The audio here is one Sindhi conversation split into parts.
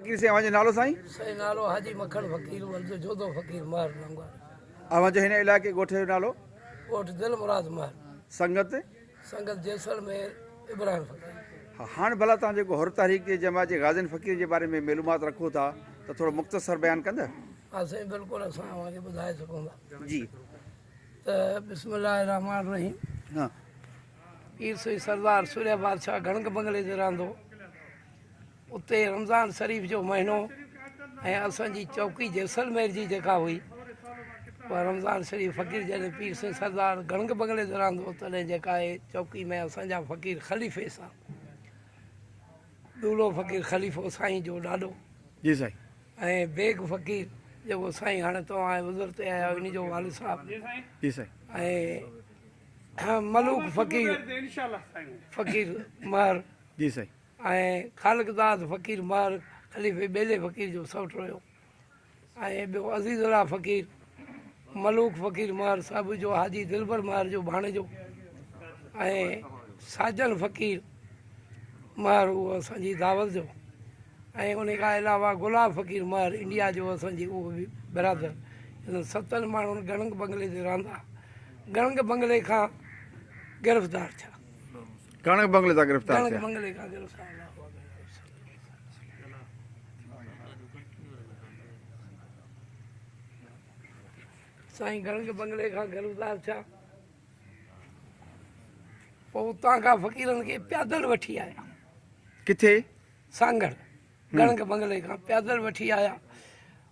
فقير سائين اوهان جو نالو سائين. سائين نالو حاجي مکڻ فقير ورھ جو جوڌو فقير مهر لنگور. اوهان جو هن علائقي ڳوٺ جو نالو. ڳوٺ دل مراد مهر. سنگت. سنگت جيسلمير ابراهيم فقير. ها هاڻ ڀلا توهان جيڪو حر تحريڪ جي جماعت جي غازين فقير جي باري ۾ معلومات رکو ٿا ته ٿورو مختصر بيان ڪندا. ها سائين بلڪل اسان اوهان کي ٻڌائي سگهون ٿا. جي. ته بسم الله الرحمٰن الرحيم. ها. پير سائين سردار سوريا بادشاھ گڻڪ بنگلي تي رهندو. اتي رمضان شريف جو مهينو ۽ اسان جي چوڪي جيسلمير جي جيڪا هئي پر رمضان شريف فقير جڏهن پير سين سردار گڻگ بنگلي ته رهندو تڏهن جيڪا آهي چوڪي ۾ اسان جا فقير خليفي سان دولو فقير خليفو سائين جو ڏاڏو جي سائين ۽ بيگ فقير جيڪو سائين هاڻي توهان وزر تي آيا ان جو والد صاحب جي سائين ۽ ملوڪ فقير فقير مهر جي سائين ۽ خالق داد فقير مهر خليفي ٻيلي فقير جو سئوٽ هيو ۽ ٻيو عزيز الله فقير ملوڪ فقير مهر صاحب جو حاجي دلبر مهر جو ڀاڻيجو ۽ ساجن فقير مهر هو اسان جي دعوت جو ۽ ان کان علاوه گلاب فقير مهر انڊيا جو اسان جي اهو به برادر انهن ستن ماڻهن گڻنگ بنگلي تي رهندا گڻنگ بنگلي کان گرفتار ٿيا ڪڻڪ بنگلي تان گرفتار ٿيا. پوء اتان کان فقيرن کي پيادل وٺي آيا. ڪٿي؟ سانگهڙ. ڪڻڪ بنگلي کان پيادل وٺي آيا.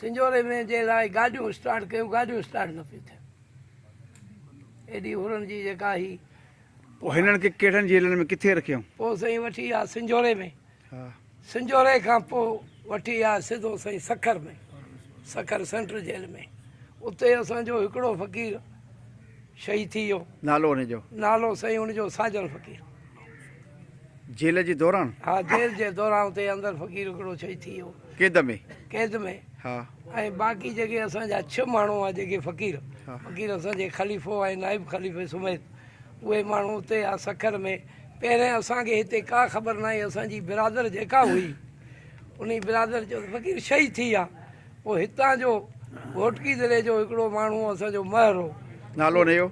سنجهوري ۾ جي لاء گاڏيون اسٽارٽ ڪيون گاڏيون اسٽارٽ نه پيون ٿين ايڏي هورن جي جيڪا هي پوء هنن کي ڪهڙن جيلن ۾ ڪٿي رکيو پوء سائين وٺي آ سنجهوري ۾ سنجهوري کان پوء وٺي آ سڌو سائين سکر ۾ سکر سينٽر جيل ۾ اتي اسان جو هڪڙو فقير شهيد ٿي ويو. نالو ان جو؟ نالو سائين ان جو ساجن فقير هو. جيل جي دوران؟ ها جيل جي دوران اتي اندر فقير هڪڙو شهيد ٿي ويو. قيد ۾؟ قيد ۾. ها. ۽ باقي جيڪي اسان جا ڇهه ماڻهو هئا جيڪي فقير، فقير اسان جي خليفو ۽ نائب خليفي سميت اهي ماڻهو اتي هئا سکر ۾. پهرين اسان کي هتي ڪا خبر ناهي اسان جي برادر جيڪا هئي انهي برادر چيو ته فقير شهيد ٿي ويا. هو هتان جو گهوٽڪي ضلعي جو هڪڙو ماڻهو اسان جو مهر هو. نالو ان جو؟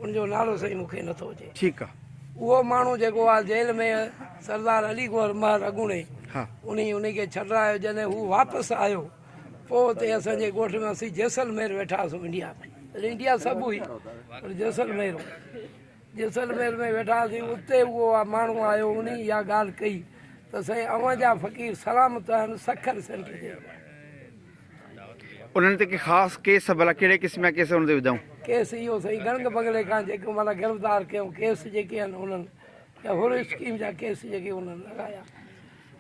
ان جو نالو سائين مون کي نٿو اچي. ٺيڪ آ. اهو ماڻهو جيڪو آ جيل ۾ سردار علي گوهر مهر اڳوڻي ها. انهي انهي کي ڇڏرايو جڏهن هو واپس آيو پوء اتي اسان جي ڳوٺ ۾ اسين جيسلمير ويٺا هئاسون انڊيا ۾ تڏهن انڊيا سڀ هئي پر جيسلمير هو. جيسلمير ۾ ويٺا هئاسين، اتي اهو ماڻهو آيو، انهي اها ڳالهه ڪئي ته سائين اوهان جا فقير سلامت آهن، سکر سينٽر جي. انهن تي ڪي خاص ڪيس، ڀلا ڪهڙي قسم جا ڪيس انهن تي وڌائون؟ ڪيس اهو سائين گنگ بنگلي کان جيڪو معنيٰ گرفتار ڪيو، ڪيس جيڪي آهن انهن يا هر اسڪيم جا ڪيس جيڪي انهن لڳايا،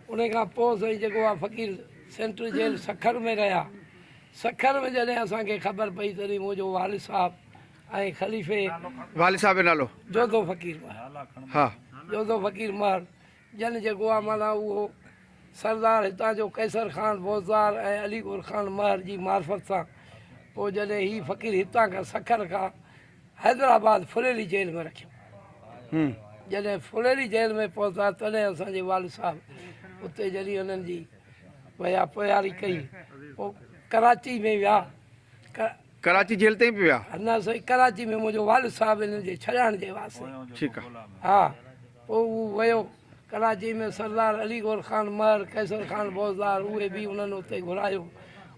انهي کان پوء سائين جيڪو اها فقير سينٽر جيل سکر ۾ رهيا، سکر ۾ جڏهن اسان کي خبر پئي تڏهن منهنجو والد صاحب، ۽ خليفي والد صاحب جو نالو جوڌو فقير مهر ها جوڌو فقير مهر جن جيڪو آ معنيٰ اهو سردار هتان جو قيصر خان بوزدار ۽ علي ڳور خان مهر جي معرفت سان پوء جڏهن هي فقير هتان کان سکر کان حيدرآباد ڦريلي جيل ۾ رکيو هم جڏهن ڦريلي جيل ۾ پهتا تڏهن اسان جي والد صاحب اتي جڏهن انهن جي ويا پياري ڪئي پوء ڪراچي ۾ ويا ڪراچي جيل تائين به ويا. نه سائين ڪراچي ۾ منهنجو والد صاحب هنن جي ڇڏائڻ جي واسطي. ٺيڪ آ. ها پوء هو ويو ڪراچي ۾ سردار علي گور خان مهر قيصر خان بوزدار اهي به انهن اتي گهرايو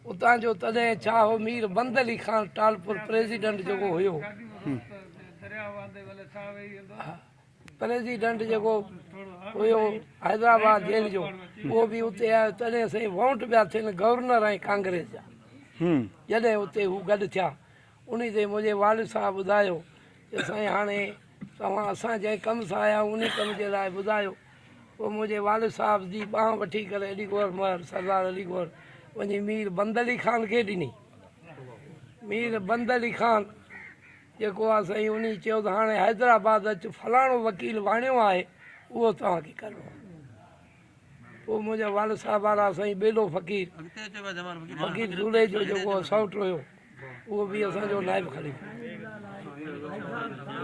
اتان جو تڏهن ڇا هو مير بند علي خان ٽالپر پريزيڊنٽ جيڪو هيو. پريزيڊنٽ جيڪو هيو حيدرآباد جيل جو اهو به اتي آيو تڏهن سائين وونٽ پيا ٿين گورنر ۽ ڪانگريس جا جڏهن اتي هو گڏ ٿيا انهي تي منهنجي والد صاحب ٻڌايو ته سائين هاڻي توهان اسان جنهن ڪم سان آيا آهيون انهي ڪم جي لاء ٻڌايو پوء منهنجي والد صاحب جي ٻانهن وٺي ڪري علي گوهر مهر سردار علي گوهر وڃي مير بند علي خان کي ڏني مير بند علي خان جيڪو آ سائين انهي چيو ته هاڻي حيدرآباد اچ فلاڻو وڪيل واڻيو آهي اهو توهان کي ڪرڻو آهي پوء منهنجا والد صاحب وارا سائين ٻيلو فقير فقير جوڙيجو جيڪو سئوٽ هيو اهو به اسان جو نائب خليفو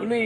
انهي